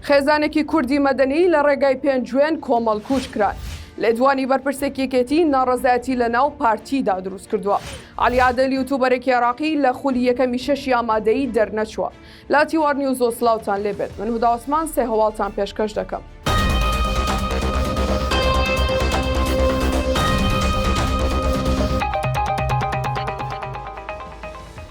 خێزانێکی کوردی مەدەنی لە ڕێگای پێنجوێن کۆمەڵکوژ کران. لێدوانی بەرپرسێکی یەکێتی ناڕەزایەتی لە ناو پارتیدا دروست کردووە. عەلی عادل یوتوبەرێکی عێراقی لە خولی یەکەمی شەشی ئامادەیی دەرنەچووە. لە تیوار نیوز و سڵاوتان لێ بێت. من هودا عوسمان سێ هەواڵتان پێشکەش دەکەم.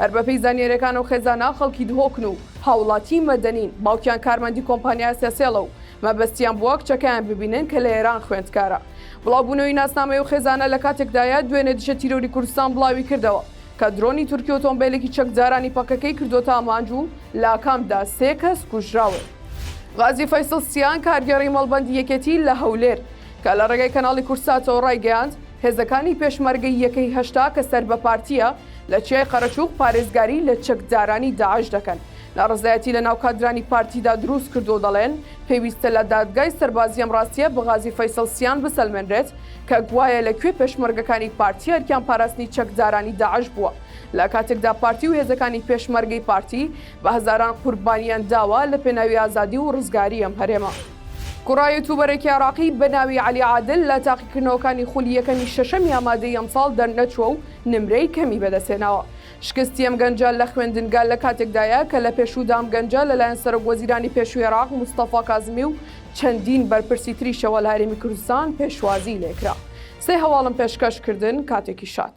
هەر بەپێی زانیاریەکان ئەو خێزانە خەڵکی دهۆکن و هاوڵاتی مەدەنین، باوکیان کارمەندی کۆمپانیا سێسێڵە و مەبەستیان بووە کچەکەیان ببینن کە لە ئێران خوێندکارە. بڵاوبوونەوەی ناسنامەی ئەو خێزانە لە کاتێکدایە، دوێنێ دژە تیرۆری کوردستان بڵاوی کردەوە کە درۆنی تورکی ئۆتۆمبێلێکی چەکدارانی پەکەکەی کردووەتە ئامانج و لە ئاکامدا سێ کەس کوژراون. غازی فەیسڵ سیان، کارگێڕی مەڵبەندی یەکێتی لە هەولێر کە لە ڕێگەی کەناڵی کوردساتەوە ڕایگەیاند، هێزەکانی پێشمەرگەی یەکەی هەشتا کە سەر بە پارتییە، لە چیای قەرەچووغ پارێزگاری لە چەکدارانی داعش دەکەن، ناڕەزایەتی لەناو کادرانی پارتیدا دروست کردووە و دەڵێن، پێویستە لە دادگای سەربازی ئەم ڕاستییە بە غازی فەیسەڵ سیان بسەلمێنرێت کە گوایە لە کوێ پێشمەرگەکانی پارتی ئەرکیان پاراستنی چەکدارانی داعش بووە لە کاتێکدا پارتی و هێزەکانی پێشمەرگەی پارتی بە هەزاران قوربانیان داوە لە پێناوی ئازادی و ڕزگاری ئەم هەرێمە. کوڕە یوتوبەرێکی عێراقی بە ناوی عەلی عادل لە تاقیکردنەوەکانی خولی یەکەمی شەشەمی ئامادەی ئەمساڵ دەرنەچووە و نمرەی کەمی بەدەستهێناوە. شکستی ئەم گەنجە لە خوێندنگە لە کاتێکدایە کە لە پێشوودا ئەم گەنجە لەلایەن سەرۆکوەزیرانی پێشووی عێراق مستەفا کازمی و چەندین بەرپرسی تریشەوە لە هەرێمی کوردستان پێشوازیی لێکرا. سێ هەواڵم پێشکەش کردن، کاتێکی شاد.